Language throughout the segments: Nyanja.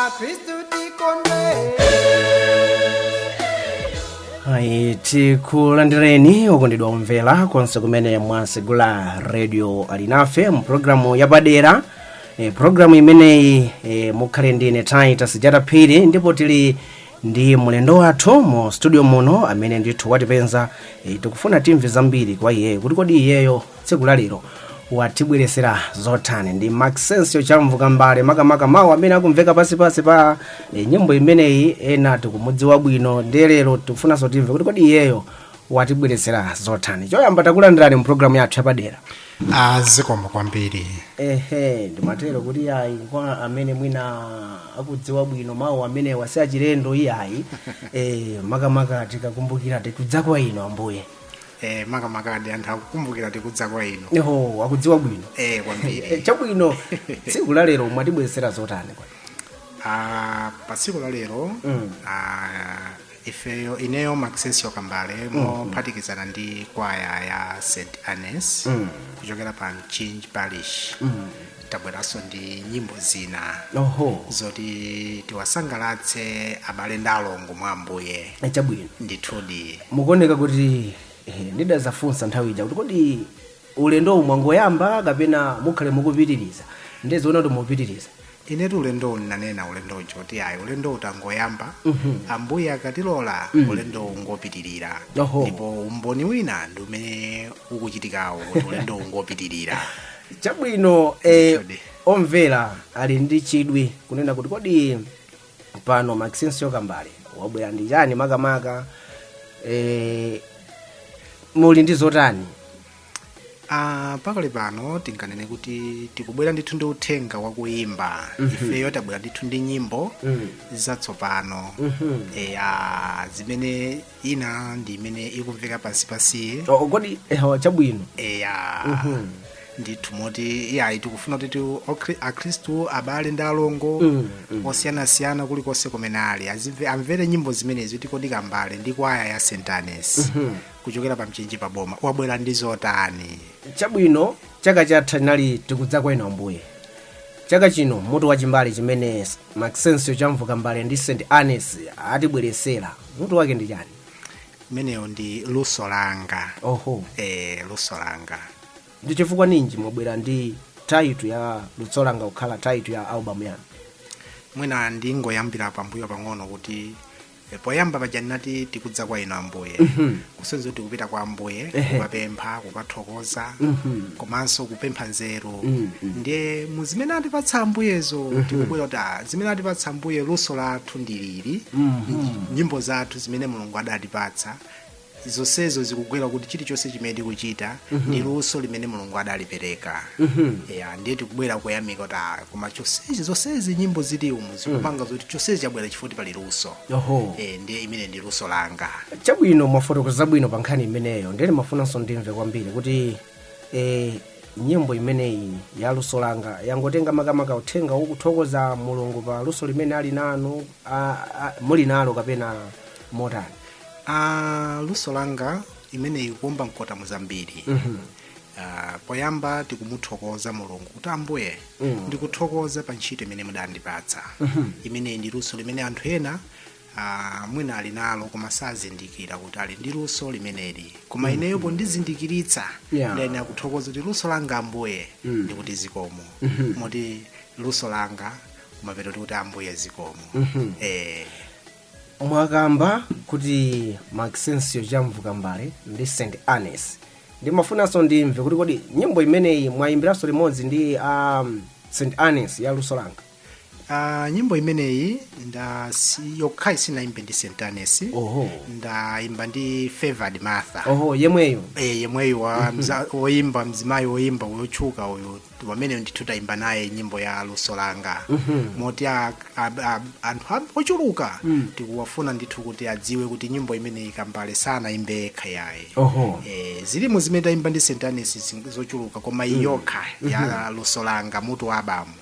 akristu tikondwe ayi tikulandireni okondedwa omvera konse kumene mwasegula radio alinafe mu programu yapadera E, programu imeneyi e, mukhale ndi ine titus jata phiri ndipo tili ndi mlendo wathu mu studio muno amene ndithu watipeza e, tikufuna timve zambiri kwa iyeyo kuti kodi iyeyo tsiku la lero watibweretsera zotani ndi maxensio chamvu kambale makamaka mawu amene akumveka pansipansi pa e, nyimbo imeneyi ena tikumudziwa bwino ndi lero tikufunanso timve kuti kodi iyeyo watibweretsera zotani choyamba takulandirani mu programu yathu yapadera a zikomo kwambiri ehe ndimatero kuti ayi kwa amene mwina akudziwa bwino mawu amenewa si achilendo iyayi e, makamaka tikakumbukira tikudza kwa inu ambuye eh, makamaka ndi anthu akukumbukira tikudza kwa inu eho akudziwa bwino eh, e, kwambiri chabwino tsiku la lero mwatibweretsera zotani kwa ah, pa tsiku la lero Mm. ah, ifeyo ineyo maxensio kambale mophatikizana ndi kwaya ya st annes kuchokera pa mchinji parish tabweranso ndi nyimbo zina oho zoti tiwasangalatse abale ndi alongo mwa ambuye chabwino ndithudi mukuoneka kuti eh, ndidazafunsa nthawi ija kuti kodi ulendowu mwangoyamba kapena mukhale mukupitiriza ndizoona kuti mupitiriza inetu ulendowu ndinanena ulendo uja kuti ayi ulendowu tangoyamba ambuye akatilola ulendowu ungopitirira Oho. ndipo umboni wina ndi umene ukuchitikawu kuti ulendowu ungopitirira chabwino eh, Chodi. omvera ali ndi chidwi kunena kuti kodi pano maxensio kambale wabwera ndi chani makamaka eh, muli ndi zotani Ah, pakali pano tinganene kuti tikubwera ndithu ndi uthenga wakuyimba ifeyo tabwera ndithu ndi nyimbo zatsopano eya zimene ina ndi imene ikumveka pansi pansi Oh, kodi eh, chabwino eya ndithu moti iyayi tikufuna kuti ti- okri- akhristu abale ndi alongo osiyanasiyana kulikonse kumene ali azimve- amvere nyimbo zimenezi kuti kodi kambale ndi kwaya ya st annes kuchokera pa mchinji pa boma wabwera ndi zotani chabwino chaka chatha inali tikudza kwa inu ambuye chaka chino mutu wa chimbale chimene maxencio chamvuka kambale ndi st annes atibweretsera mutu wake ndi chani imeneyo ndi luso langa oho e, luso langa ndi chifukwa ninji mwabwera ndi title ya luso langa kukhala title ya albamu yanu mwina ndingoyambira pambuyo pang'ono kuti E, poyamba paja ndinati tikudza kwa inu ambuye kusonyeza kuti tikupita kwa ambuye kukapempha kukathokoza komanso kupempha nzeru ndiye mu zimene atipatsa ambuyezo tikubwera kuti "Ah, zimene atipatsa ambuye luso lathu ndilili nyimbo zathu zimene mulungu adatipatsa zonsezo zikugwera kuti chilichonse chimene tikuchita ndi luso limene mulungu adalipereka ya ndiye tikubwera kuyamika kuti "Ah, koma chonsechi zonsezi nyimbo zili umu zikupanga zoti chonsechi chabwera chifukwa pali luso Oho. Eh, ndiye imene ndi luso langa chabwino mwafotokoza bwino pa nkhani imeneyo ndiye ndimafunanso ndimve kwambiri kuti eh, nyimbo imeneyi ya luso langa yangotenga makamaka uthenga wokuthokoza mulungu pa luso limene ali nanu ah, ah, muli nalo kapena motani Ah, luso langa imeneyi ikuomba mkota muzambiri Ah, poyamba tikumuthokoza mulungu kuti ambuye ndikuthokoza pa ntchito imene mudandipatsa imeneyi ndi luso limene anthu ena ah, mwina ali nalo koma sazindikira kuti ali ndi luso limeneli koma ineyo pondizindikiritsa Yeah. ndiye ndikuthokoza kuti luso langa ambuye ndikuti zikomo moti luso langa kumapeto tikuti ambuye zikomo Mhm. eh, mwakamba kuti maxensio chamvuka kambale ndi st annes ndimafunanso ndimve kuti kodi nyimbo imeneyi mwayimbiranso limodzi ndi um, st annes ya luso langa ah, nyimbo imeneyi nda si- yokhayi sinayimbe ndi st annes oho ndayimba ndi favored martha oho yemweyo Eh, yemweyo wa mza- woyimba mzimayi woyimba wotchuka uyu wamene ndithu tayimba naye nyimbo ya luso langa moti a- a- a- anthu am- ochuluka tikuwafuna ndithu kuti adziwe kuti nyimbo imeneyi kambale sanayimbe yekha yaye Oho. Eh, zilimo zimene tayimba ndi st annes zin- zochuluka koma iyi yokha ya luso langa mutu wa albamu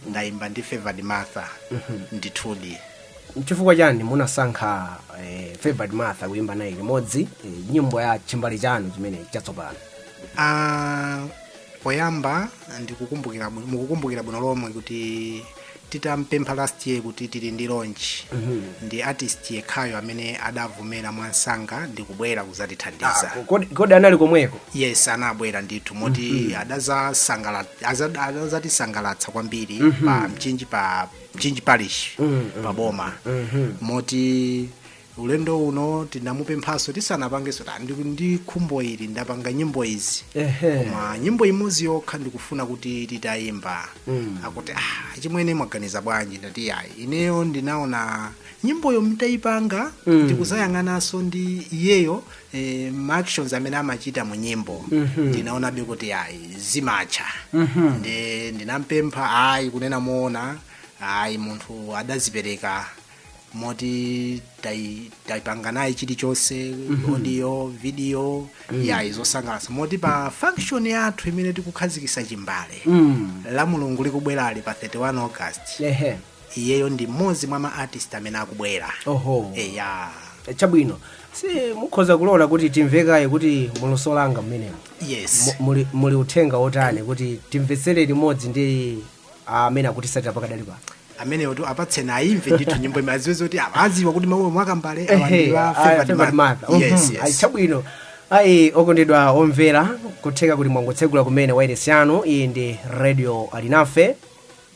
ndayimba ndi favored martha ndithudi chifukwa chani munasankha eh, favored martha kuyimba naye limodzi eh, nyimbo ya chimbale chanu chimene chatsopano Ah, poyamba ndikukumbukira bwino- mukukumbukira bwino lomwe kuti titampempha last year kuti tili ndi launch ndi artist yekhayo amene adavomera mwamsanga ndikubwera kuzatithandiza Ah, kodi- kodi anali komweko yes anabwera ndithu moti adazasangala- aza- adazatisangalatsa kwambiri pa mchinji pa mchinji parish pa boma moti ulendo uno tinamupemphanso ndisanapangenso ndati, ndi khumbo ili ndapanga nyimbo izi Ehe. koma nyimbo imodzi yokha ndikufuna kuti titayimba mm. akuti ah, chimwene mwaganiza bwanji ndati ayi ineyo ndinaona nyimboyo nditayipanga mm. ndikuzayang'ananso ndi iyeyo eh, ma actions amene amachita mu nyimbo mm-hmm. ndinaonabe kuti ayi zimatcha mm-hmm. nde ndinampempha ayi kunena moona ayi munthu adazipereka moti tai- taipanga naye chilichonse audio video ayi zosangalatsa moti pa function yathu imene tikukhazikisa chimbale Mm. la mulungu likubwerali pa 31 august Ehe. iyeyo ndi mmodzi mwa ma artist amene akubwera Oho. eya Chabwino. Si mukhoza kulola kuti timvekaye kuti mu luso langa mmenemo. yes Mu- Muli muli uthenga wotani kuti timvetsere limodzi ndi amene akutisatira pakadali pano amenewotu apatseni ayimve ndithu nyimbo imene aziwe zoti apa aziwa kuti mawu omwe akambale awa Ehe, ndi wa aya, favoured favoured martha. martha. Mhm, Yes, yes. ayi, chabwino ayi okondedwa omvera kutheka kuti mwangotsegula kumene wairesi yanu iyi ndi radio alinafe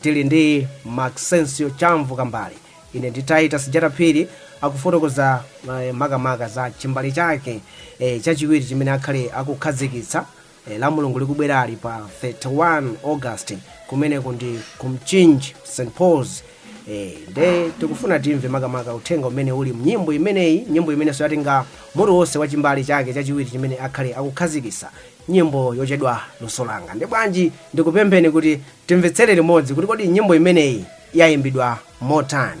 tili ndi maxensio chavu kambale ine ndi titus jata phiri akufotokoza eh, makamaka za chimbale chake eh, chachiwiri chimene akhale akukhazikitsa e, la mulungu likubwerali pa 31 august kumeneko ndi ku mchinji st pauls e, nde tikufuna timve makamaka uthenga umene uli mnyimbo imeneyi nyimbo imenenso yatenga mutu wonse wa chimbale chake chachiwiri chimene akhale akukhazikisa nyimbo yotchedwa luso langa nde bwanji ndikupempheni kuti timvetsere limodzi kuti kodi nyimbo imeneyi yayimbidwa motani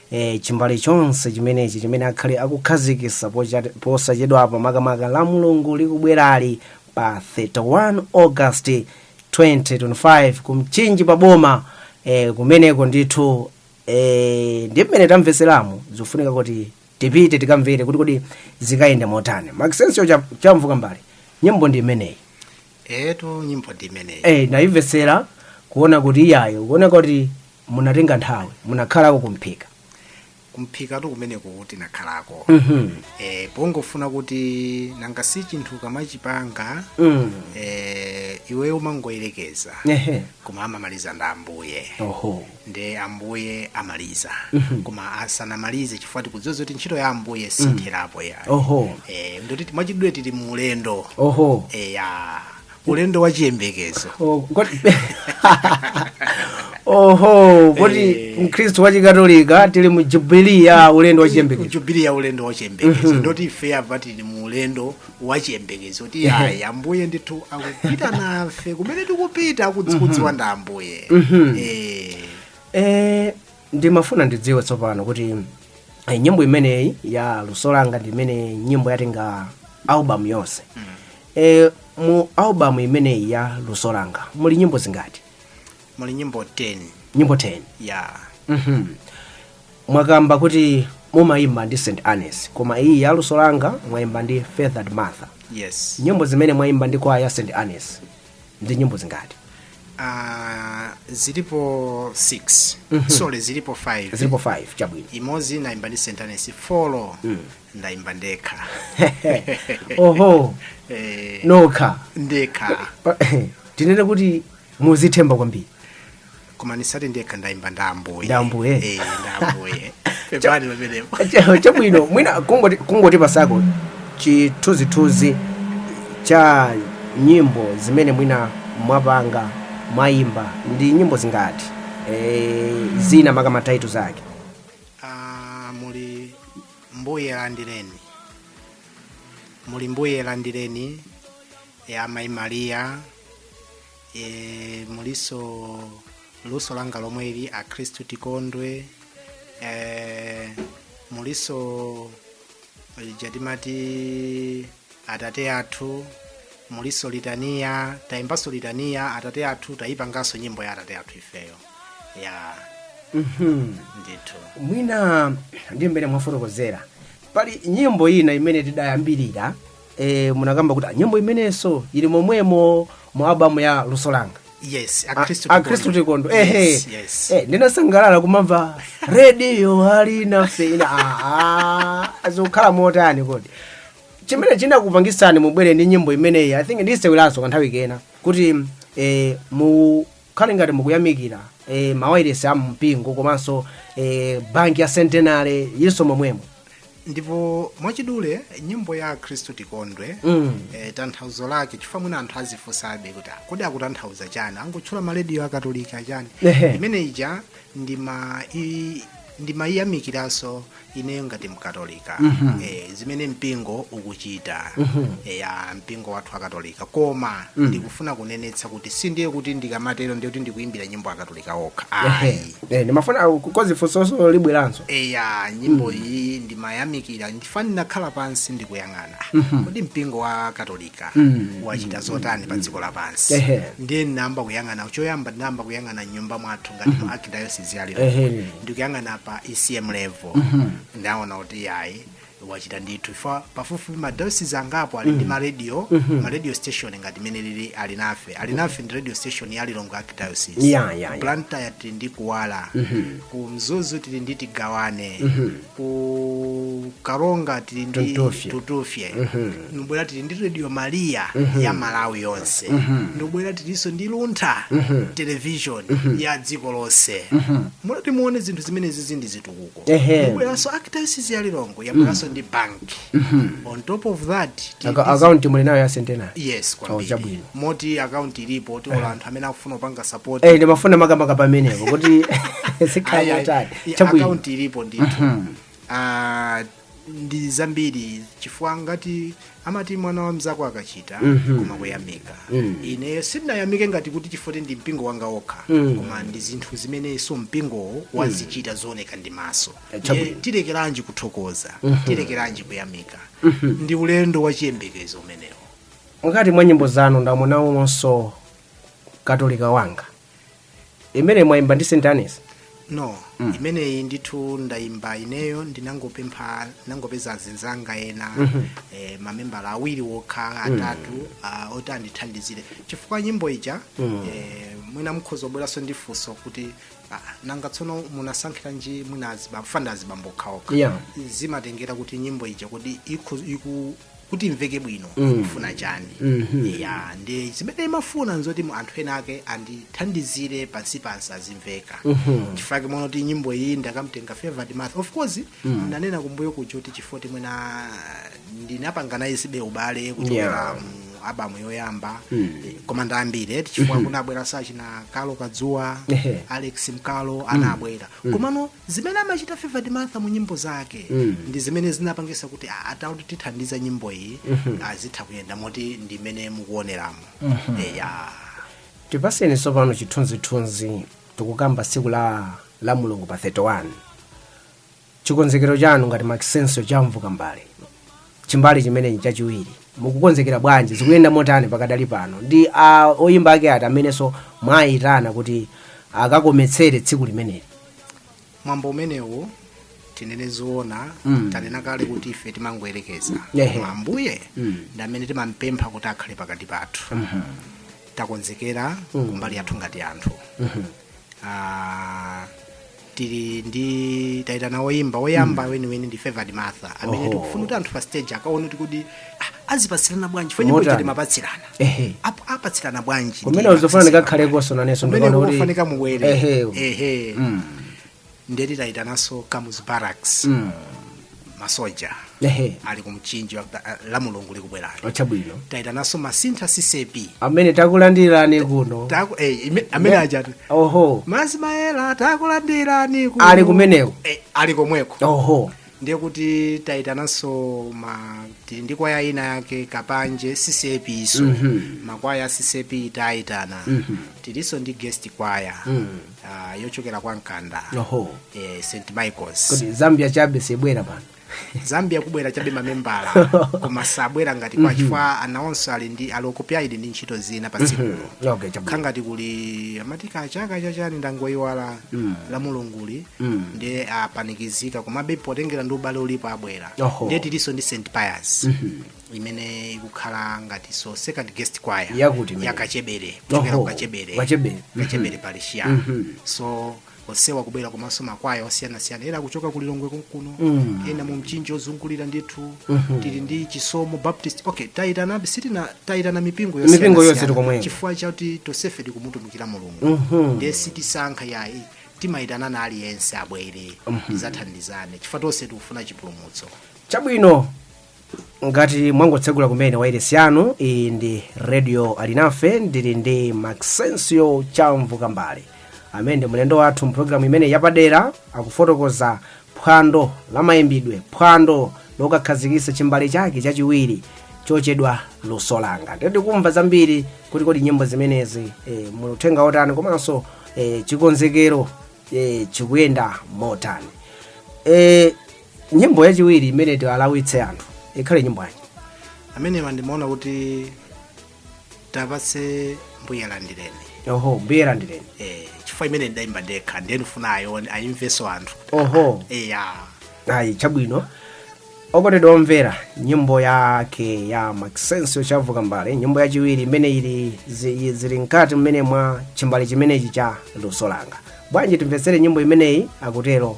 e, chimbale chonse chimenechi chimene akhale akukhazikisa pocha- posachedwapa makamaka la mulungu likubwerali pa 31 august 2025 ku mchinji pa boma e, kumeneko ndithu e, ndi mmene tamvetseramu zikufunika kuti tipite tikamvere kuti kodi zikayenda motani maxensio chavu kambale nyimbo ndi imeneyi etu nyimbo ndi imeneyi eh ndayimvetsera kuona kuti iyayo kuona kuti munatenga nthawi munakhalako kumphika kumphikatu kumeneko kuti nakhalako mhm eh, pongofuna kuti nanga si chinthu ukamachipanga mm eh, iweyo umangoyerekeza ehe koma amamaliza ndi ambuye oho nde ambuye amaliza koma asanamalize chifukwa tikudziwa zoti ntchito ya ambuye sitherapo ayi oho eh, ndoti mwachidule tili mu ulendo oho eh, ya ulendo wa chiyembekezo Oh, kodi- oho poti Eh. mkhristu wa chikatolika tili mu jubilee ya ulendo wa chiyembekezo jubili ya ulendo wa chiyembekezo ndoti ife apa tili mu ulendo wachiyembekezo kuti ayi ambuye ndithu akupita nafe kumene tikupita akudziwa ndi ambuye Eh, Eh, ndimafuna ndidziwe tsopano kuti eh, nyimbo imeneyi ya luso langa ndi imene nyimbo yatenga album yonse eh, mu album imeneyi ya luso langa muli nyimbo zingati muli nyimbo 10 nyimbo 10 ya Mhm. mwakamba kuti mumayimba ndi st agnes koma iyi ya luso langa mwayimba ndi feathered martha yes nyimbo zimene mwayimba ndi kwaya ya st agnes ndi nyimbo zingati uh, zilipo 6 sorry zilipo 5 zilipo 5 chabwino imodzi ndayimba ndi st agnes four ndayimba ndekha oho eh, nokha ndekha tinene kuti mumadzithemba kwambiri koma ndisati ndekha ndayimba nda ambuye Nda ambuye. Eh, nda ambuye pepani pamenepo Cha- chabwino mwina kungoti kungotipatsako chithunzithunzi cha nyimbo zimene mwina mwapanga mwayimba ndi nyimbo zingati e, zina maka mataitu zake Ah, muli mbuye landireni muli mbuye landireni ya mayi maliya e, mulinso luso langa lomwe ili akhristu tikondwe e, mulinso ija timati atate athu mulinso litaniya tayimbanso litaniya atate athu tapanganso nyimbo ya atate athu ifeyo ya Mhm. ndithu mwina ndi mmene mwafotokozera pali nyimbo ina imene tidayambirira e, munakamba kuti "Ah, nyimbo imeneyinso ili momwemo mu albamu ya luso langa yes A- akhristu akhristu tikondwe ehe yes, yes. Eh, ndinasangalala kumamva rediyo alinafe aha zikukhala motani kodi chimene chinakupangitsani mubwere ndi nyimbo imeneyi i think ndiiseweranso kanthawi kena kuti eh, mu khale ngati mukuyamikira e, mawailesi a mpingo komanso e, banki ya Centenary ilinso momwemo. ndipo mwachidule nyimbo ya akhristu tikondwe Mm. eh, tanthauzo lake chifukwa mwina anthu azifunsabe kuti "Ah, kodi akutanthauza chani angotchula marediyo akatolika chani Ehe. imene ija ndi ma i- ndi mayamikiranso ineyo ngati mkatolika eh, zimene mpingo ukuchita eh, ya mpingo wathu wa katolika koma ndikufuna kunenetsa kuti sindiye kuti ndikamatero ndiye kuti ndikuimbira nyimbo akatolika okha ayi Eh, ndimafuna kuti funsonso libweranso eya nyimbo iyi ndimayamikira chifukwa ndinakhala pansi ndikuyang'ana kodi mpingo wa katolika ka wachita zotani pa dziko lapansi Ehe. ndiye ndinayamba kuyang'ana choyamba ndinayamba kuyang'ana nyumba mwathu ngati mu archdiocese ya lilongwe Ehe. ndikuyang'ana pa ecm level ndaona kuti yayi wachita ndithu fa pafupifupi madayosizi angapo ali ndi maradio maradio station ngati imeneyi Alinafe Alinafe ndi radio station ya lilongwe archdiocese Ya, ya, ya. blantyre tili ndi kuwala ku mzuzu tili ndi tigawane ku karonga tili ndi Tutufye. tutufye ndikubwera tili ndi radio maria ya malawi yonse ndikubwera tilinso ndi luntha television ya dziko lonse mulati muone zinthu zimenezi zindi zitukuko Ehe. ndikubweranso archdiocese ya lilongwe yabweranso ndi bank on top of that tili Aka- ndi akaunti muli nayo ya centenary yes Oh, kwambiri chabwino. moti akaunti ilipo ti ola anthu amene akufuna kupanga support Eh, ndimafuna makamaka pamenepo kuti Ayi, ayi. sikhala kutali I- Chabwino. akaunti ilipo ndithu Ah, ndi zambiri chifukwa ngati amati mwana wa mzako akachita koma kuyamika ine sindinayamike ngati kuti chifukwa choti ndi mpingo wanga wokha koma ndi zinthu zimenenso mpingowo wazichita zooneka ndi maso Chabwino. Ndiye tilekeranji kuthokoza tilekeranji kuyamika ndi ulendo wa chiyembekezo umenewo ngati mwa nyimbo zanu ndamuonamonso katolika wanga imene mwaimba ndi st agnes no imeneyi ndithu ndayimba ineyo ndinangopempha ndinangopeza azinzanga ena eh, mamembala awiri wokha atatu ah, oti andithandizire chifukwa nyimbo ija eh, mwina mukhoza kubweranso ndi funso kuti ah, nanga tsono munasankhiranji mwina azibambo fanda azibambo okhaokha Yeah. zimatengera kuti nyimbo ija kuti ikho- iku- kuti imveke bwino ikufuna chani ya ndi zimene imafuna nzoti mu anthu ena ake andithandizire pansi pansi azimveka chifukwa chake mwaona kuti nyimbo iyi ndakamtenga favoured martha of course ndanena kumbuyo kuja kuti chifukwa ti mwina ndinapanga naye zibe ubale kuchokera Yeah. mu abamu yoyamba eh, koma ndi ambiri eti chifukwa kunabwera achina carlo kadzuwa Ehe. alex nkalo anabwera komano zimene amachita favoured martha mu nyimbo zake Mm. ndi zimene zinapangisa kuti a- atati atithandize nyimbo izi zitha kuyenda moti ndi imene mukuoneramo eya tipaseni tsopano chithunzithunzi tikukamba tsiku la la mulungu pa 31 chikonzekero chanu ngati makisenso chamvuka mbale chimbale chimenechi chachiwiri mukukonzekera bwanji zikuyenda motani pakadali pano ndi a oyimba ake ati amenenso mwayitana kuti akakometsere tsiku limeneli mwambo umenewu tinene zoona Mm. tanena kale kuti ife timangoyerekeza Ehe. Koma ambuye Mm. ndi amene timampempha kuti akhale pakati pathu takonzekera kumbali yathu ngati anthu Ah, tili ndi tayitana woyimba woyamba weniweni ndi favoured martha amene Oho. tikufuna kuti anthu pa stage akaone kuti kodi ah, azipatsirana bwanji fo nyimbo Motani? ija timapatsirana Ehe. Apo apatsirana bwanji kumene ndiye uzofana apatsirana. ndikakhalekonso nanenso Kumene ndikaona kuti- kukufunika mubwere Ehe. ehe Mm. ndeti tayitananso kamuzu barracks Mm. masoja ehe ali ku mchinji wa- a- la mulungu likubwerali oh chabwino tayitananso masintha ccap amene takulandirani kuno Taku- eh, ime- amene ajatu oho mazi mayela takulandirani kuno. Ali kumeneko? Eh, ali komweko oho ndiye kuti tayitananso ma tili ndi kwaya ina yake kapanje ccap nso makwaya a ccap tayitana tilinso ndi guest kwaya ah, yochokera kwa mkanda oho eh, st michaels kodi zambia chabe sibwera pano zambia kubwera chabe mamembala koma sabwera ngati kwaya chifukwa anawonso ali ndi ali occupied ndi ntchito zina pa tsikulo okay chokhala ngati kuli amati kachaka chachani ndangoyiwala la mulunguli ndiye apanikizika komabe potengera ndi ubale ulipo abwera Oho. ndiye tilinso ndi st pius imene ikukhala ngati so second guest choir Yakuti imene? yakachebere kuchokera Oho, kukachebere Kachebere. Mhm. kachebere parish ya Mhm. so onsewa kubwera komanso makwaya osiyanasiyana ena akuchoka ku lilongwe kunkuno Mm. ena mu mchinji ozungulira ndithu Mhm. tili ndi chisomo baptist okay tayitana sitina tayitana mipingo Mipingo yonse yosiyanasiyana tili komweko. chifukwa chakuti tonsefe tikumutumikira mulungu Mhm. ndiye sitisankha yayi timayitanana aliyense abwere tizathandizane chifukwa tonse tikufuna chipulumutso chabwino ngati mwangotsegula kumene wairesi yanu iyi ndi radio alinafe ndili ndi maxensio chamvu kambale amene ndi mlendo wathu mpulogalamu imene yapadera akufotokoza phwando la mayimbidwe phwando lokakhazikitsa chimbale chake chachiwiri chotchedwa luso langa ndi tikumva zambiri kuti kodi nyimbo zimenezi e, muli uthenga otani komanso e, chikonzekero e, chikuyenda motani e, nyimbo yachiwiri imene tiwalawitse anthu ikhale nyimbo yanji amenewa ndimaona kuti tiwapatse mbuye landireni oho mbuye landireni eh, chifukwa imene ndidayimba ndekha ndiye ndifuna ayione ayimveso anthu oho eya ayi chabwino okondedwa omvera nyimbo yake ya maxensio chamvu kambale nyimbo yachiwiri imene ili zi- zili mkati mmene mwa chimbale chimenechi cha luso langa bwanji timvetsere nyimbo imeneyi akutero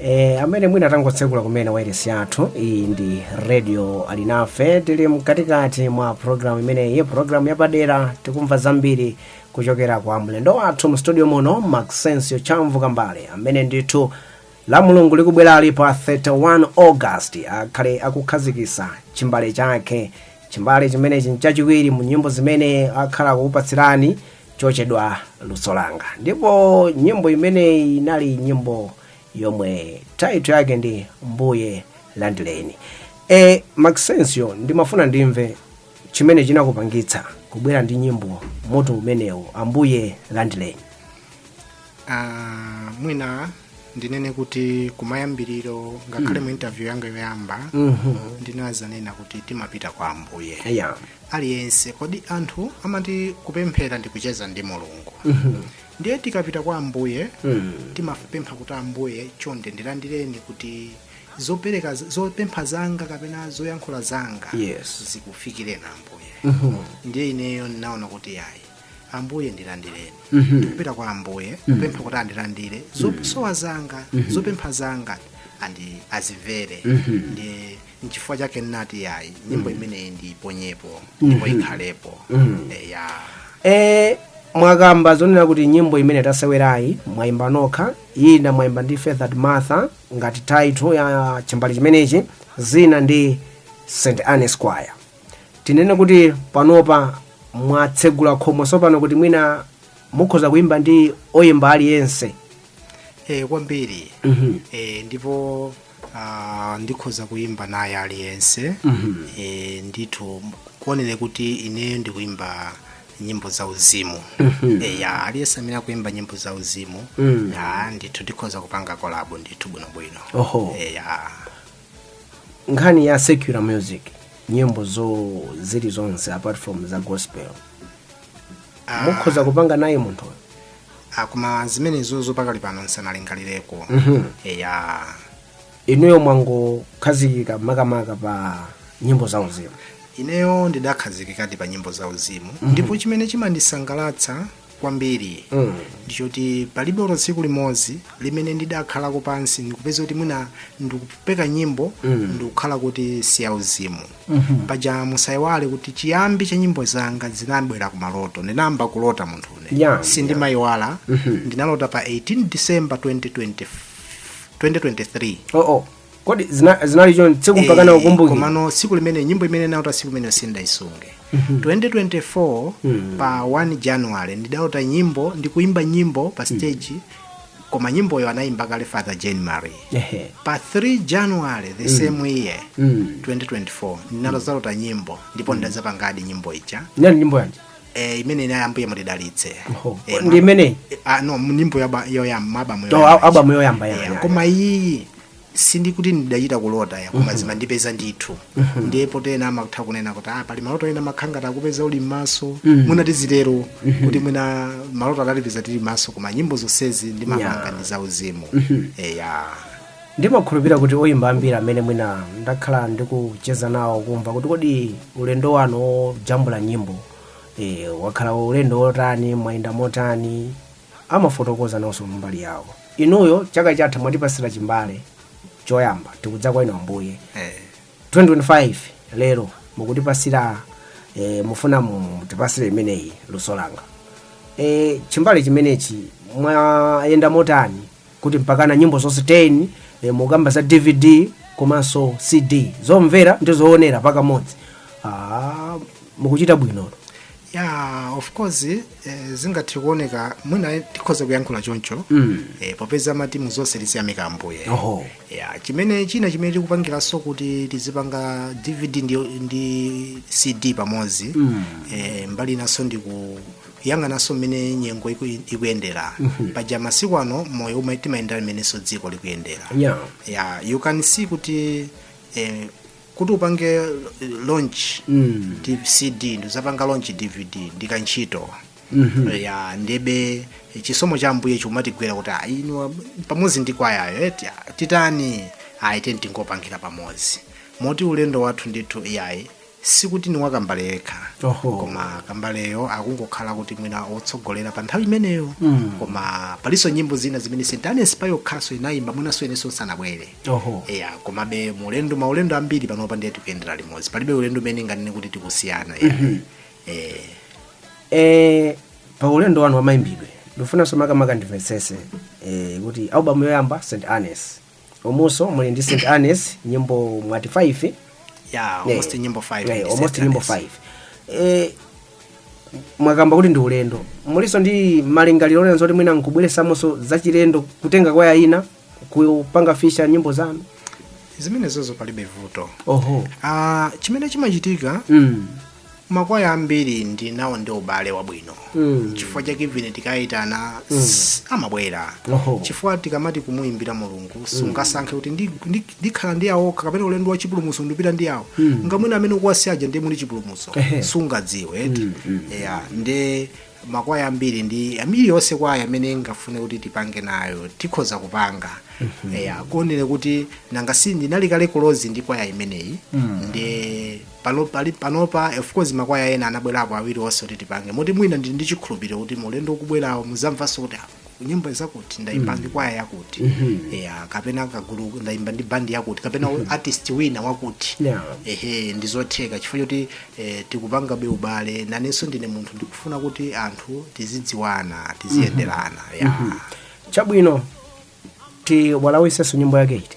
E, amene mwina tangotsekula kumene wairesi yathu iyi ndi radio alinafe tili mkatikati mwa programu imeneyi programu yapadera tikumva zambiri kuchokera kwa mlendo wathu mstudio muno maxensio chamvu kambale amene ndithu la mulungu likubwerali pa 31 august akhale akukhazikisa chimbale chake chimbale chimenechi nchachiwiri mu nyimbo zimene akhala akukupatsirani chochedwa luso langa ndipo nyimbo imeneyi inali nyimbo yomwe title yake ndi mbuye landileni e Maxensio ndimafuna ndimve chimene chinakupangitsa kubwera ndi nyimbo mutu umenewu ambuye landileni Ah, mwina ndinene kuti kumayambiriro ngakhale mu interview yanga yoyamba ndinazanena kuti timapita kwa ambuye yeah. aliyense kodi anthu amati kupemphera ndi kucheza ndi mulungu ndiye tikapita kwa ambuye timapempha kuti ambuye chonde ndilandireni kuti zopempha zanga kapena zoyankhula zanga Yes. zikufikireni ambuye ndiye ineyo ndinaona kuti yayi ambuye ndilandireni Mhm. ndikupita kwa ambuye kupempha kuti andilandire zosowa zanga zopempha zanga andi azimvere ndi nchifukwa chake ndinati yayi nyimbo imeneyi ndiiponyepo ndipo ikhalepo eya e, mwakamba zonena kuti nyimbo imene tasewerayi mwayimba nokha ina mwayimba ndi feathered martha ngati title ya chimbale chimenechi zina ndi St Anne's Choir tinene kuti panopa mwatsegula khomo tsopano kuti mwina mukhoza kuimba ndi oyimba aliyense e, kwambiri Mhm. e, ndipo ah, ndikhoza kuyimba naye aliyense Mhm. e, ndithu kuonere kuti ineyo ndikuyimba nyimbo za uzimu Mhm. e, ya aliyense amene akuyimba nyimbo za uzimu Mm. ya ndithu ndikhoza kupanga kolabo ndithu bwinobwino oho e, ya nkhani ya secular music nyimbo zo zili zonse apart from za gospel Ah, mukhoza kupanga naye munthu ah, koma zimenezo zo pakali pano nsanalingalireko eya inuyo mwangokhazikika makamaka pa nyimbo za uzimu ineyo ndidakhazikikadi pa nyimbo za uzimu ndipo chimene chimandisangalatsa kwambiri mm. ndichoti palibe olo tsiku limodzi limene ndidakhalako pansi ndikupeza kuti mwina ndikupeka nyimbo mm. ndikukhala kuti siyauzimu mm-hmm. paja musayiwale kuti chiyambi cha nyimbo zanga zinabwera ku maloto ndinayamba kulota munthune Yeah, sindimayiwala mm-hmm. ndinalota pa 18 december 2020, 2023 oh, oh. kodi zina- zinali choncho tsiku mpakana Eh, ukumbuke komano tsiku limene nyimbo imene nalota tsiku limene sindaisunge 2024 pa 1 january ndidalota nyimbo ndikuimba nyimbo pa stage koma nyimboyo anaimba kale father jane marie Ehe. pa 3 january the same year Mm. 2024 ndinadzalota nyimbo ndipo ndidazapangadi nyimbo ija ndani nyimbo yanji eh, imene ina ambuye mutidalitse Oho. Eh, ndi imeneyi eh, ah, no nyimbo yaba- yoyamba abamu To, yoyamba. abamu yoyamba ya- Eh, ya- koma iyi sindikuti ndidachita kulota ya koma zimandipeza ndithu ndi potena amatha kunena kuti ah, pali maloto ena amakhala ngati akupeza uli m'maso mwina tizitero kuti mwina maloto adalipeza tili m'maso koma nyimbo zonsezi ndimapanga ndi zauzimu eya ndimakhulupirira kuti oyimba ambiri amene mwina ndakhala ndikucheza nawo kumva kuti kodi ulendo wanu wojambula nyimbo e, wakhala ulendo wotani mwayenda motani amafotokoza nawonso mbali yawo inuyo chaka chatha mwatipasira chimbale choyamba tikudza kwa inu ambuye Eh, 2025 lero mukutipasira e, mufuna mutipasire imeneyi luso langa e, chimbale chimenechi mwayenda motani kuti mpakana nyimbo zonse 10 e, mukamba za dvd komanso cd zomvera ndi zoonera pakamodzi ah, mukuchita bwino ya of course eh, zingathe kuoneka mwina tikhoza kuyankhula choncho Mm. eh, popeza amati mu zonse tiziyamika ambuye Oho. ya chimene china chimene tikupangiranso kuti tizipanga dvd ndi, ndi cd pamodzi Mm. eh, mbali inanso ndi ku yang'ananso mmene nyengo iku- ikuyendera paja masiku ano moyo umene timayendera mmenenso dziko likuyendera Yeah. yeah, you can see kuti eh, kuti upange eh, launch Mm. D- cd ndizapanga launch dvd ndi kantchito ya ndebe chisomo cha ambuye chikumatigwera kuti "Ah, inu ab- pamodzi ndi kwayayo eti ah, titani aa tiyeni tingopangira pamodzi moti ulendo wathu ndithu iyayi sikuti ni wakambale yekha Oho. koma kambaleyo akungokhala kuti mwina otsogolera pa nthawi imeneyo Mm. koma palinso nyimbo zina zimene st anne's payokhanso inayimba mwinanso inenso sanabwere Oho. eya komabe muulendo maulendo ambiri panopa ndiye tikuyendera limodzi palibe ulendo umene nganene kuti tikusiyana ya eh, Eh, pa ulendo wanu wamayimbidwe ndifunanso makamaka ndimvetsese eh, kuti album yoyamba st anne's umunso muli ndi st anne's nyimbo mwati 5 ya almost nyimbo 5 Eh, almost nyimbo 5 eh, mwakamba kuti ndi ulendo mulinso ndi malingaliro onena zoti mwina nkubweresamonso zachilendo kutenga kwaya ina kupanga feature nyimbo zanu zimenezozo palibe vuto oho Ah, chimene chimachitika mm. makwaya ambiri ndinawo ndi ubale wabwino Mm. chifukwa chake even tikayitana s- amabwera Oho. chifukwa tikamati kumuyimbira mulungu sungasankhe kuti ndi- ndi- ndikhala ndi awo kapena ulendo wa chipulumutso ndipita ndi awo ndiye mwina amene ukuwasiyaja ndiye muli chipulumutso Ehe. sungadziwe eti ya nde makwaya ambiri ndi ambiri yonse kwaya amene ngafune kuti tipange nayo tikhoza kupanga ya kungoonera kuti nanga si ndinali kale close ndi kwaya imeneyi ndi pano pali panopa of course makwaya ena anabwerapo awiri onse kuti tipange moti mwina ndili ndi chikhulupiriro kuti mu ulendo ukubwerawo muzamvanso kuti "Ah, nyimbo zakuti ndaimba ndi kwaya yakuti yeah, kapena kagulu ndaimba ndi bandi yakuti kapena artist wina wakuti Yeah. ehe ndizotheka chifukwa choti eh, tikupangabe ubale nanenso ndine munthu ndikufuna kuti anthu tizidziwana tiziyenderana yeah. chabwino tiwalawisenso nyimbo yake iti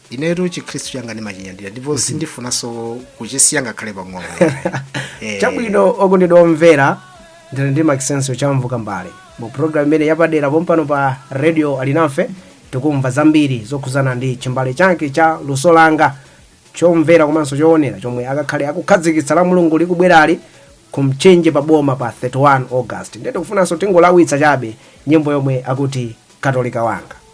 inetu chikhristu changa ndimachinyadira ndipo sindifunanso kuchisiya ngakhale pang'ono Eh, chabwino okondedwa omvera ndili ndi Maxensio Chamvuka mbale mu programu imene yapadera pompano pa radio alinafe tikumva zambiri zokhuzana ndi chimbale chake cha luso langa chomvera komanso choonera chomwe akakhale akukhazikitsa Lamulungu likubwerali ku Mchinji pa boma pa 31 august ndiye tikufunanso tingolawitsa chabe nyimbo yomwe akuti katolika wanga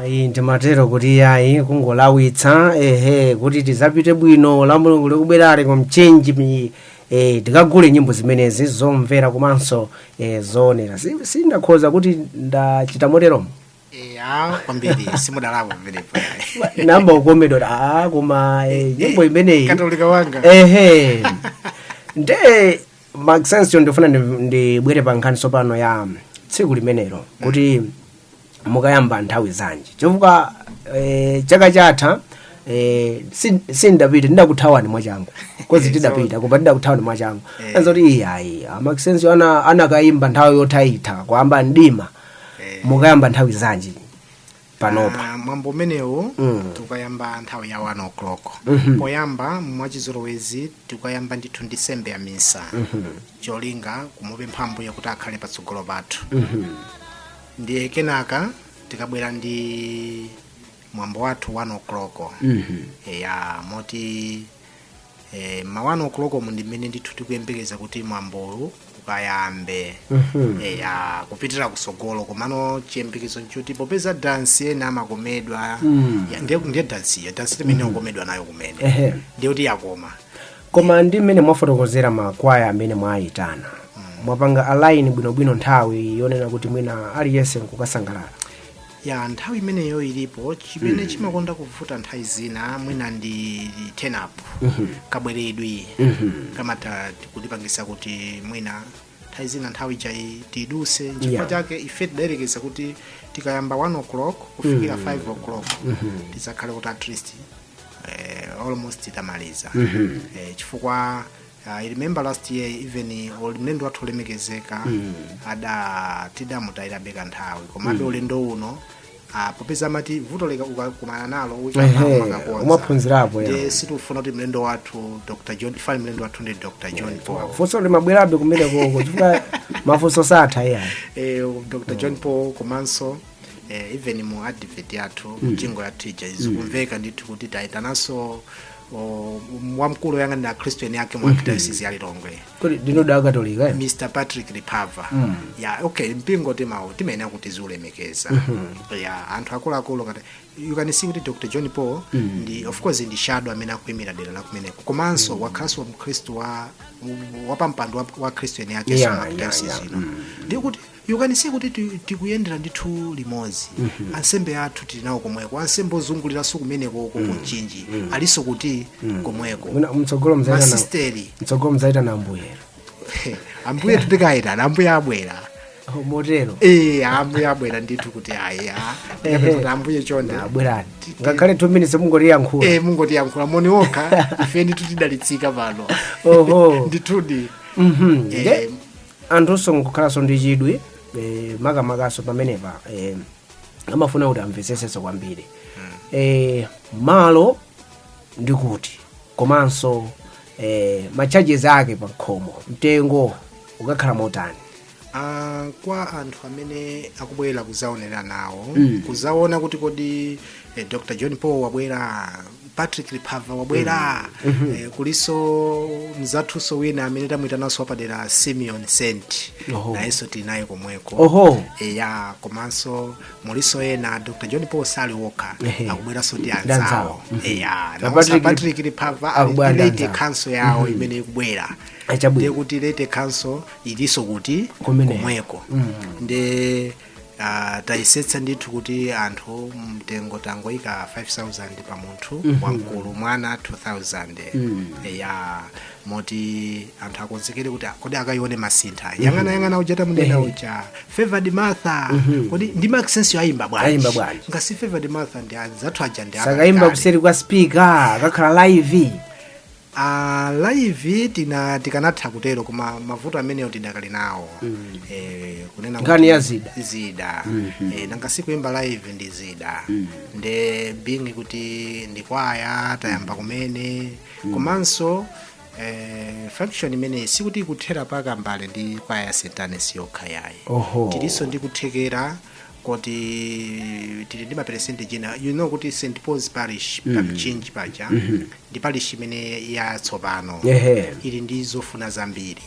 ayi ndimatero kuti ayi kungolawitsa ehe kuti tizapite bwino Lamulungu likubwerali ku Mchinji mi eh, tikagule nyimbo zimenezi zomvera komanso eh, zoonera Si- sindakhoza kuti ndachita moteromo ya kwambiri simudalakwe pamenepo nnayamba kukomedwa ah, koma eh, nyimbo imeneyi katolika wanga ehe nde Maxensio ndifuna ndi- ndibwere pa nkhani tsopano ya tsiku limenelo kuti mukayamba nthawi zanji chifukwa eh, chaka chatha eh, si- sindapita ndidakuthawani mwachangu of course tidapita koma ndidakuthawani mwachangu Eh. adzati iyayi a Maxensio ana anakayimba nthawi yothaitha kwayamba mdima mukayamba nthawi zanji panopa Ah, mwambo umenewu Mm. tikayamba nthawi ya 1 o'clock poyamba mwachizolowezi tikayamba ndithu ndi nsembe ya misa cholinga kumupempha ambuye kuti akhale patsogolo pathu ndiye kenaka tikabwera ndi mwambo wathu 1 o'clock eya moti e, ma 1 o'clock mu ndi mmene ndithu tikuyembekeza kuti mwambowu ukayambe e, ya kupitira kutsogolo komano chiyembekezo nchoti popeza dansi ena amakomedwa Mm. ya- ndiye ndiye dansi iyo dansi imene akukomedwa nayo kumene Ehe. ndiye kuti yakoma koma ndi mmene mwafotokozera makwaya amene mwayitana mwapanga align bwinobwino nthawi yonena kuti mwina aliyense nkukasangalala ya nthawi imeneyo ilipo chimene chimakonda kuvuta nthawi zina mwina ndi turn up kabweredwe kamatha kutipangisa kuti mwina nthawi zina nthawi ija itiduse nchifukwa Yeah. chake ife tidayerekeza kuti tikayamba 1 o'clock kufikira 5 o'clock tidzakhale kuti at least eh, almost tamaliza eh, chifukwa Ah, I remember last year even ol- mlendo wathu olemekezeka Mm. ada tidamutayirabe kanthawi komabe Mm. ulendo uno ah, popeza amati vuto lika ukakumana nalo Ehe, uchamakakonza umaphunzirapo, ya. ndi sitifuna kuti mlendo wathu dr john fani mlendo wathu ndi dr john paul funso limabwerabe kumenekoko chifukwa mafunso satha iyayi eh, dr john paul komanso eh, even mu advert yathu Mm. mu jingle yathu ija zikumveka ndithu kuti tayitananso o, wamkulu oyang'anira akhristu eni ake mu arkidayosizi ya lilongwe kodi ndinu da akatolika eh? mr patrick lipava Mm. ya okay mpingo timawo timayenera kuti tiziulemekeza ya anthu akuluakulu ngati you can see kuti dr john paul ndi of course ndi shadow amene akuimira dera la kumeneko komanso wakhalanso mkhristu wa wapampando wa, wa akhristu eni ake Yeah, yeah, yeah, yeah. ino ndekuti you can see kuti ti- tikuyendera ndithu limodzi ansembe athu tili nawo komweko ansembe ozunguliranso kumeneko uko ku mchinji alinso kuti komweko Mwina mtsogolo mzaitana masisteri mtsogolo mzaitana ambuye ambuye tikaitana ambuye abwera Oh, motero ee ambuye abwera ndithu kuti ayi a- Ehe. kuti ambuye chonde abwerani ngakhale 2 minutes mungotiyankhula ee mungotiyankhula moni okha ife ndithu tidalitsika pano oho ndithudi Mhm. Eh, Nde- anthunso nkukhalanso ndi chidwi eh, makamakanso pamenepa eh, amafuna kuti amvesesenso kwambiri eh, malo ndi kuti komanso eh, ma charges ake pa khomo mtengo ukakhala motani Ah, kwa anthu amene akubwera kuzaonera nawo Mm. kuzaona kuti kodi eh, dr john paul wabwera patrick lipava wabwera eh, kulinso mzathunso wina amene tamwitananso wapadera simeon saint Oho. nayenso tinaye komweko Oho. eya komanso mulinso ena dr john paul sali wokha Ehe. akubweranso ndi Ndi anzawo. anzawo Mhm. eya Na naonso Patrick- patrick lipava Akubwera ndi a laity anzawo. council yawo imene ikubwera Achabwino. ndekuti laity council ilinso kuti Kumeneko. komweko nde Uh, tayesetsa ndithu kuti anthu mtengo tangoyika 5000 pa munthu Mhm. wamkulu mwana 2000 Mm. ya moti anthu akonzekere kuti kodi akayione masintha Mhm. yang'ana yang'ana uja tamunena Ehe. uja favored martha Mhm. kodi ndi maxense ayimba bwanji Ayimba bwanji. nanga si favored martha ndi anzathu aja nde sakayimba akakale. kuseri kwa spika akakhala live a live tina tikanatha kutero koma mavuto amenewo tidakali nawo eh, kunena Nkhani kuti ya zida. zida eh, nanga si kuimba live ndi zida nde being kuti ndi kwaya tayamba kumene komanso eh, function imeneyi sikuti ikuthera paka mbali ndi kwaya ya st anne's yokha yayi Oho. tilinso ndi kuthekera kuti tili ndi maperesenti ena you know kuti st paul's parish pa mchinji paja ndi parish imene yatsopano ili ndi zofuna zambiri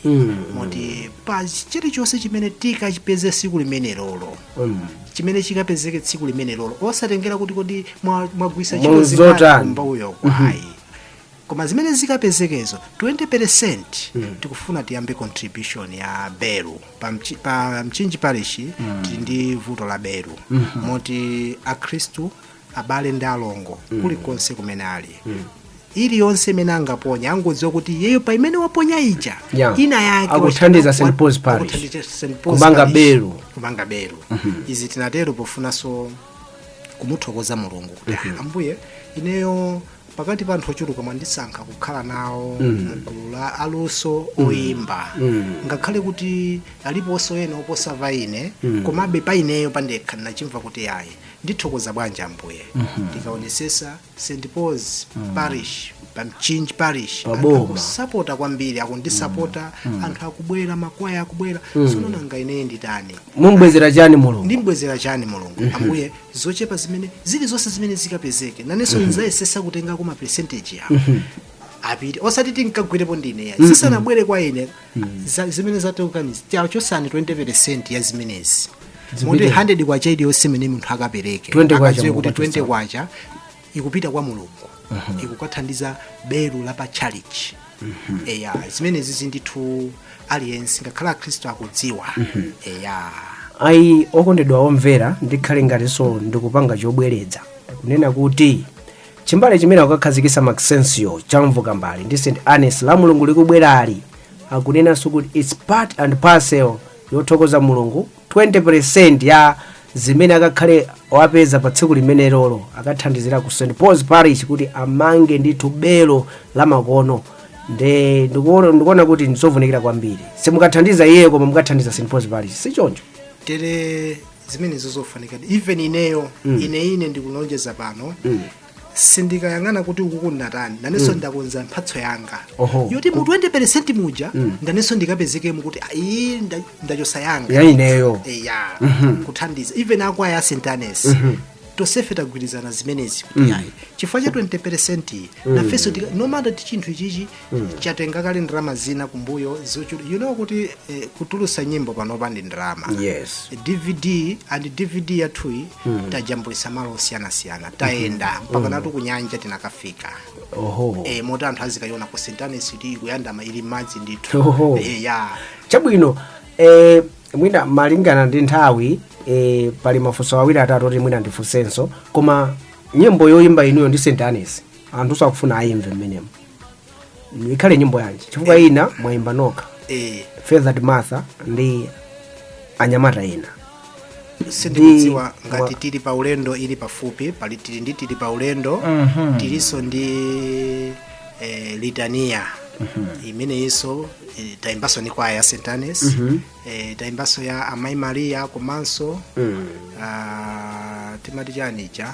moti pa chilichonse chimene tikachipeze tsiku limenelolo chimene chikapezeke tsiku limenelolo osatengera kuti kodi mwagwisa chiyani zimbauyoko ayi koma zimene zikapezekezo 20 percent tikufuna tiyambe contribution ya beru pa mchinji parish tili ndi vuto la beru moti akhristu abale ndi alongo kulikonse kumene ali iliyonse imene angaponya angodziwa kuti iyeyo pa imene waponya ija ina yake akuthandiza St. Paul's Parish kumanga beru izi tinatero pofunanso kumuthokoza mulungu kuti ambuye ineyo pakati pa anthu ochuluka mwandisankha kukhala nawo mgulu la aluso oyimba ngakhale kuti aliponso ena oposa pa ine komabe pa ineyo pandekha ndinachimva kuti yayi ndithokoza bwanji ambuye ndikaonesesa st paul's parish pa mchinji parish anthu akusapota kwambiri akundisapota anthu akubwera makwaya akubwera sono nanga ineyo nditani ndimbwezera chani mulungu ndimbwezera chani mulungu ambuye zochepa zimene zilizonse zimene zikapezeke nanenso ndizayesesa kutengako ma percentage yawo apite osati tinkagwirepo ndine yayi zisanabwere kwa ine zimene zatulukazi tachosani 20 percent ya zimenezi moti 100 kwacha iliyonse imene munthu akapereke akadziwe kuti 20 kwacha ikupita kwa mulungu ikukathandiza belu la pa chalichi eya zimenezi zindithu aliyense ngakhale akhristu akudziwa eya ayi okondedwa omvera ndikhale ngatinso ndikupanga chobwereza kunena kuti chimbale chimene akukakhazikisa maxensio chamvuka mbali ndi st annes la mulungu likubwerali akunenanso kuti its part and parcel yothokoza mulungu 20 peresenti ya zimene akakhale wapeza pa tsiku limenelolo akathandizira ku st paul's parish kuti amange ndithu belo lamakono nde ndikuona kuti ndizovunikira kwambiri simukathandiza iye koma mukathandiza st paul's parish sichoncho tere zimenezo zofunikadi even ineyo ine ine ndikulonjeza pano sindikayang'ana kuti ukuku kunatani nanenso ndakonza mphatso yanga yoti mu 20 percent muja nanenso ndikapezekemo kuti iyi ndachosa yanga yaineyo eya kuthandiza even akwaya a st annes tosefe tagwirizana zimenezi kuti yayi chifukwa cha 20 percent nafenso no matter kuti chinthu ichichi chatenga kale ndalama zina kumbuyo zochuluka you know kuti eh, kutulusa nyimbo panopa ndi ndalama yes dvd and dvd yathuyi tajambulisa malo osiyanasiyana tayenda mpakanatu kunyanja tinakafika oho e, moti anthu azikayiona ku st agnes kuti ikuyandama ili mmadzi ndithu Oho. e, ya chabwino eh, mwina malingana ndi nthawi eh, pali mafunso awiri atatu oti mwina ndifunsenso koma nyimbo yoyimba inuyo ndi st agnes anthu akufuna ayimve mmenemo ikhale nyimbo yanji chifukwa ina mwayimba nokha eh father martha ndi anyamata ena sindikudziwa Ndi- ngati wa- tili pa ulendo ili pafupi pali tili ndi tili pa ulendo Mhm. tilinso ndi eh, litania imeneyinso eh, tayimbanso ni kwaya ya st agnes eh, tayimbanso ya amayi maria komanso mm. ah, timati chani ija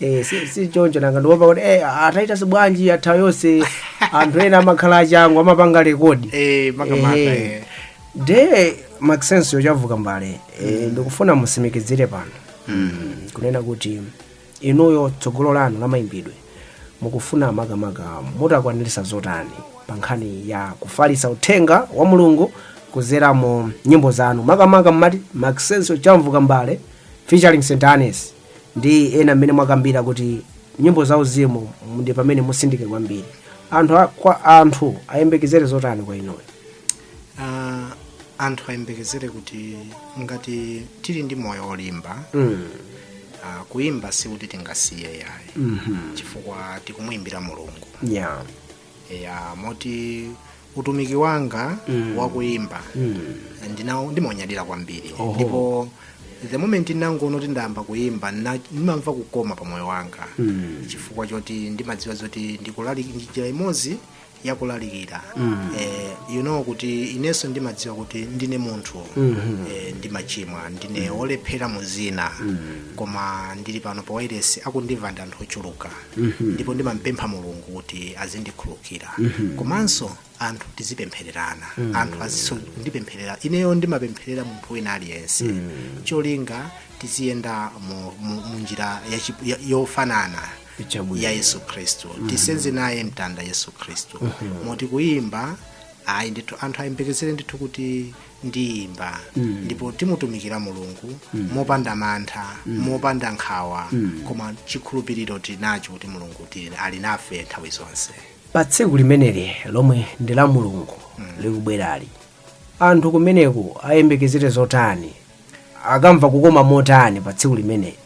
Eh, si- si choncho nanga ndiopa kuti eh, ataita sibwanji nthawi yonse anthu ena amakhala achangu amapanga rekodi Eh, makamaka, Eh. eh. maxensio chamvuka mbale eh, ndikufuna musimikizire pano kunena kuti inuyo tsogolo lanu la mayimbidwe mukufuna makamaka mutakwanirisa zotani pa nkhani ya kufalisa uthenga wa mulungu kuzera mu nyimbo zanu makamaka mmati maxensio chamvuka mbale featuring st agnes ndi ena mmene mwakambira kuti nyimbo za uzimu ndi pamene mutsindike kwambiri anthu a- kwa anthu ayembekezere zotani kwa inuyo Ah, anthu ayembekezere kuti ngati tili ndi moyo olimba mm. ah, kuimba sikuti tingasiye yayi mm chifukwa tikumuimbira mulungu yeah. ya moti utumiki wanga Mm. wakuyimba Mm. inawo ndimaunyadira kwambiri Oho. ndipo the moment ndangoona kuti ndayamba kuyimba nna- ndimamva kukoma pa moyo wanga Mm. chifukwa choti ndimadziwa zoti ndikulalika ndi njira imodzi yakulalikira Mm. eh, you know kuti inenso ndimadziwa kuti ndine munthu Mhm. eh, ndimachimwa ndine wolephera mu zina koma ndili pano pa wairesi akundimva ndi anthu ochuluka ndipo ndimampempha mulungu kuti azindikhulukira komanso anthu tizipemphererana anthu azindipempherera ineyo ndimapempherera munthu wina aliyense cholinga tiziyenda mu- mu- mu njira ya chi- ya- yofanana Chabwino. ya yesu khristu tisenze naye mtanda yesu khristu moti kuyimba ayi ndithu anthu ayembekezere ndithu kuti ndiyimba ndipo timutumikira mulungu mopanda mantha mopanda nkhawa koma chikhulupiriro tili nacho kuti mulungu tili- ali nafe nthawi zonse pa tsiku limeneli lomwe ndi la mulungu likubwerali anthu kumeneko ayembekezere zotani akamva kukoma motani pa tsiku limeneli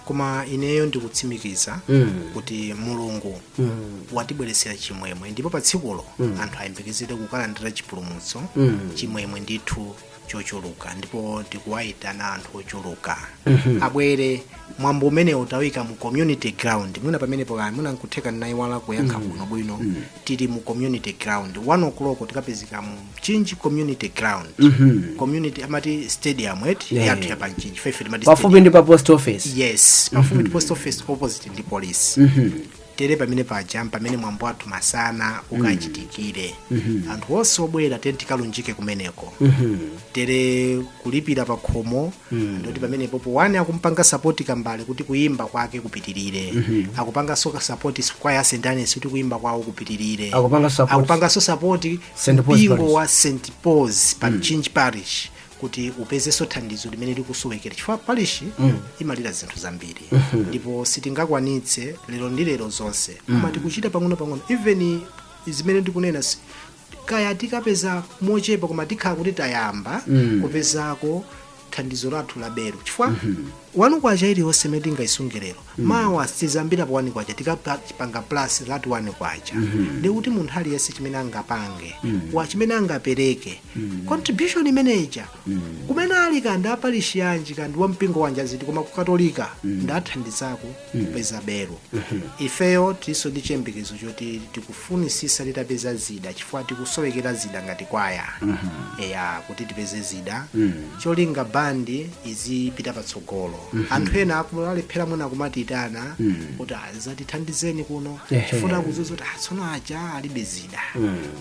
koma ineyo ndikutsimikiza Mm. kuti mulungu Mm. watibweretsera chimwemwe ndipo pa tsikulo anthu ayembekezere kukalandira chipulumutso Mm. chimwemwe ndithu chochuluka ndipo tikuwayitana anthu ochuluka abwere mwambo umenewu tawika mu community ground mwina pamenepo kaya mwina nkutheka naiwala kuyankha bwinobwino tili mu community ground 1 o'clock tikapezeka mmo mchinji community ground community amati stadium et Yeah. yathu yapa mchinji fefe timati pafupi stadium. ndi pa post office yes pafupi ndi post office opposite ndi police tere pamene paja pamene mwambo wathu masana ukachitikire anthu onse obwera tikalunjike kumeneko tere kulipira pa khomo mm. ndoti pamene popo one akumpanga sapoti kambale kuti kuyimba kwake kupitirire mm-hmm. akupanganso sapoti kwaya st agnes kuti kuyimba kwawo kupitirire Akupanga support- akupanganso sapoti St. Paul's mpingo Parish. wa st pauls pa mchinji parish kuti upezenso thandizo limene likusowekera chifukwa parish imalira zinthu zambiri ndipo sitingakwanitse lero ndi lero zonse koma tikuchita pang'ono pang'ono even zimene ndikunena si- kaya tikapeza mochepa koma tikhala kuti tayamba kupezako thandizo lathu la belo chifukwa one kwacha iliyonse imene tingayisunge lero mawa tizambira pa one kwacha tikapanga plus that one kwacha ndi kuti munthu aliyense chimene angapange wa chimene angapereke contribution imeneja kumene ali kaya ndi aparishi yanji kaya ndi wa mpingo wanji aziti koma ku katolika ndathandizako kupeza belo ifeyo tilinso ndi chiyembekezo choti tikufunisisa titapeza zida chifukwa tikusowekera zida ngati kwaya eya kuti tipeze zida cholinga bandi izipita patsogolo anthu ena aku- alephera mwina kumatiitana kuti azatithandizeni kuno Ehe. chifukwa kudziwa kuti "Ah, tsono aja alibe zida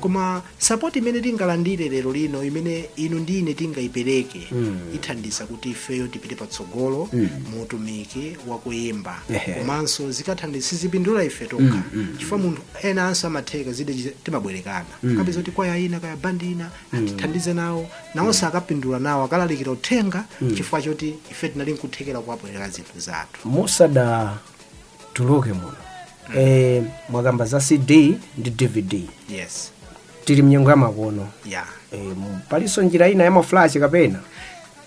koma Sapoti imene tingalandire lero lino imene inu ndi ine tingaipereke ithandiza kuti ifeyo tipite patsogolo mu utumiki wakuyimba Ehe. komanso zikathandiza sizipindula ife tokha chifukwa anthu enanso amatheka zida chiza- timabwerekana akapeza kuti kwaya ina kaya bandi ina atithandize nawo nawonso akapindula nawo akalalikira uthenga chifukwa choti ife tinali nkuthekera kuwabwereka zinthu zathu musada tuluke muno eh, mwakamba za cd ndi dvd yes tili mnyengo yamakono ya eh, mu- palinso njira ina ya maflash kapena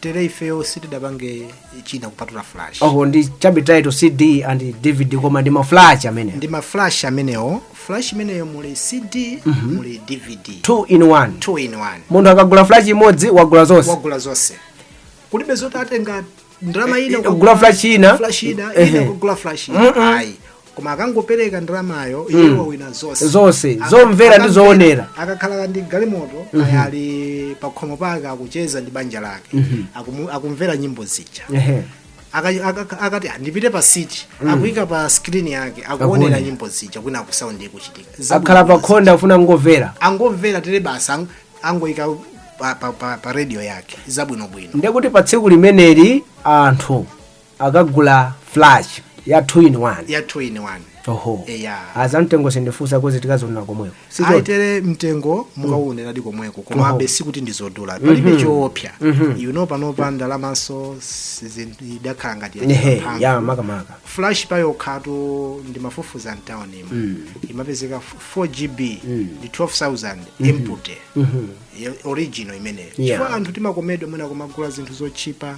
tere ifeyo sitidapange china kupatula flash oho ndi chabe title cd and dvd koma ndi maflash amene ndi maflash amenewo flash imeneyo muli cd muli dvd two in one two in one munthu akagula flash imodzi wagula zonse wagula zonse kulibe zoti atenga ndalama ina Eh, kugula flash ina. flash ina Ehe. ina kugula flash ina Mm-mm. ayi koma akangopereka ndalamayo Mm. iye wawina zonse Zonse, Aka- zomvera ndi akamvera- zoonera. akakhala ndi galimoto Mhm. kaya ali pakhomo pake akucheza ndi banja lake Mhm. Akumu- akumvera nyimbo zija Ehe. Aka- aka- akati "Ah, ndipite pa siti Mm. akuyika pa skrini yake Akuonera. akuonera nyimbo zija kwina akusaundi ikuchitika akhala pa khonda afuna kungomvera angomvera tere basi ang- angoyika pa, pa, pa, pa radio yake zabwinobwino ndekuti pa tsiku limeneli anthu akagula flash ya 2 in 1 ya 2 in 1 oho Eya. azamtengo sindifunsa kozi tikazionera komweko sichoti aitere mtengo mukawoneradi komweko komabe sikuti ndizodula palibe choopsa you know panopa ndalamanso sizi- idakhala ngati ya ehe mphamvu. ya makamaka flash payokhatu ndimafufuza mtaunimu imapezeka 4gb ndi 12000 empty Ye- original imeneyo Yeah. chifukwa anthu timakomedwa mwina kumagula zinthu zotchipa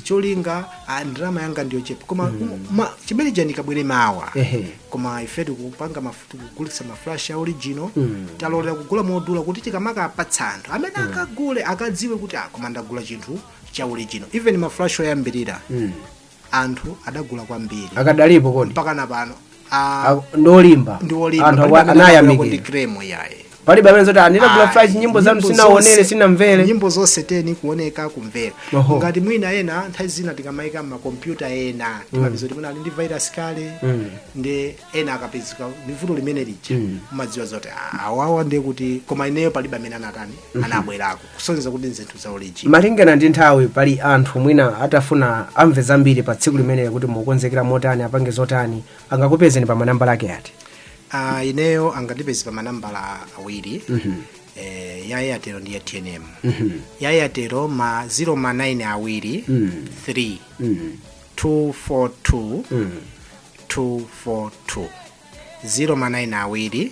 cholinga ah, ndalama yanga ndiyochepa koma um, ma- chimene chake chikabwere mawa Ehe. koma ife tikupanga mafuti kugulitsa maflash ya original talolera kugula modula kuti tikamakapatsa anthu amene akagule akadziwe kuti ah, koma ndagula chinthu cha original even maflash oyambirira anthu adagula kwambiri akadalipo mpaka na pano a- Ak- ndi olimba ndi olimba anthu palibe akwa- amene anagula anayamikira kuti kremu yaye palibe amene zoti ndinagula Ayi, flash nyimbo zanu nyimbo sinaonere zonse- sinamvere nyimbo zonse teni kuoneka kumvera Oho. ngati mwina ena nthawi zina tikamayika m'makompyuta ena timapeza kuti mwina ali ndi virus kale Mm. ndi ena akapezeka ndi vuto limene lija Mm. umadziwa zoti "Ah, awawa ndiye kuti koma ineyo palibe amene anatani anabwerako kusonyeza kuti ndi zinthu za original malingana ndi nthawi pali anthu mwina atafuna amve zambiri pa tsiku limeneli kuti mukukonzekera motani apange zotani angakupezeni pa manambala ake ati Ah, ineyo angandipeze pa manambala awiri eh, ya airtel ndi ya tnm ya airtel ma 0 ma 9 awiri 3 242 242 0 ma 9 awiri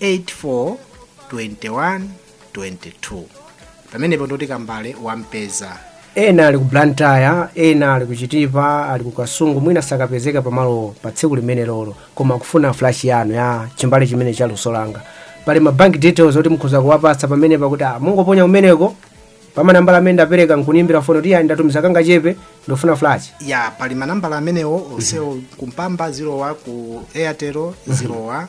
84 21 22 pamenepo ndoti Kambale wampezeka ena ali ku blantyre ena ali ku chitipa ali ku kasungu mwina sakapezeka pamalo pa tsiku limene lolo koma akufuna flash yanu ya chimbale chimene cha luso langa pali ma bank details oti mukhoza kuwapatsa pamenepa kuti ah, mungoponya kumeneko pamanambala amene ndapereka nkundiimbira foni kuti eya ndatumiza kangachepe ndikufuna flash ya pali manambala amenewo onsewo kumpamba zilowa ku airtel zilowa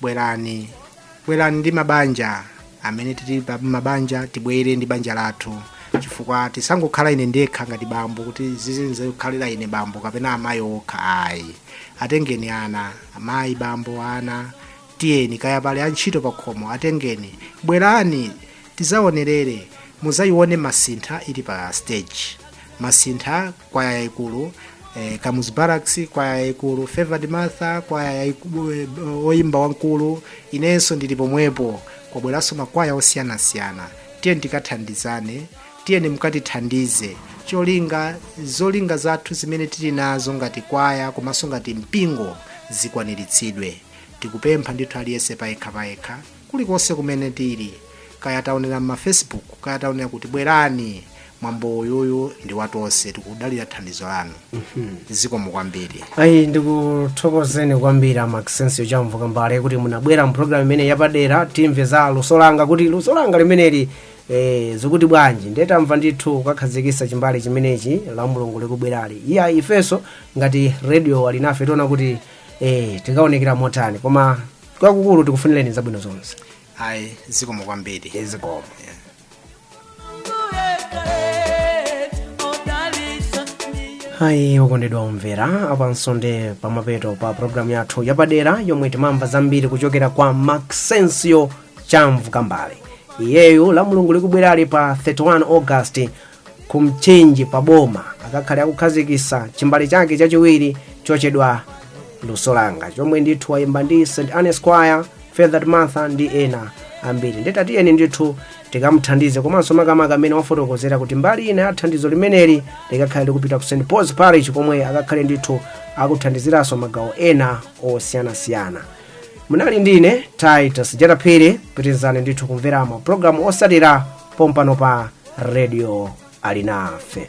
bwerani bwerani ndi mabanja amene tili pa mabanja tibwere ndi banja lathu chifukwa tisangokhala ine ndekha ngati bambo kuti zizindisangalalira ine bambo kapena amayi okha ayi atengeni ana amayi bambo ana tiyeni kaya pali antchito pa khomo atengeni bwerani tizaonerere muzayione masintha ili pa stage masintha kwaya yaikulu eh, kamuzu barracks kwaya yaikulu favored martha kwaya eh, oyimba wamkulu inenso ndili pomwepo kukabweranso makwaya osiyanasiyana tiyeni tikathandizane tiyeni mukatithandize cholinga zolinga zathu zimene tili nazo ngati kwaya komanso ngati mpingo zikwaniritsidwe tikupempha ndithu aliyense payekha payekha kulikonse kumene tili kaya taonera mma facebook kaya taonera kuti bwerani mwambo uyuyu ndi watonse tikudalira thandizo lanu zikomo kwambiri ayi ndikuthokozeni kwambiri a maxensio chamvu kambale kuti munabwera mu programu imene yapadera timve za luso langa kuti luso langa limeneli eh, zikuti bwanji nde tamva ndithu kukakhazikisa chimbale chimenechi la mulungu likubwerali eya ifenso ngati radio alinafe tiona kuti eh, tikaonekera motani koma kwakukulu tikufunireni zabwino zonse ayi zikomo kwambiri zikomo ayi okondedwa omvera apanso ndi pamapeto pa programu yathu yapadera yomwe timamva zambiri kuchokera kwa maxensio chamvu kambale iyeyo la mulungu likubwerali pa 31 august ku mchinji pa boma akakhale akukhazikisa chimbale chake chachiwiri chochedwa luso langa chomwe ndithu wayimba ndi st anne's choir favored martha ndi ena ambiri nde tatiyeni ndithu tikamuthandize komanso makamaka mmene wafotokozera kuti mbali ina ya thandizo limeneli likakhale likupita ku st paul's parish komwe akakhale ndithu akuthandiziranso magawo ena osiyanasiyana munali ndi ine titus jata phiri pitirizani ndithu kumvera mapulogalamu osatira pompano pa radio alinafe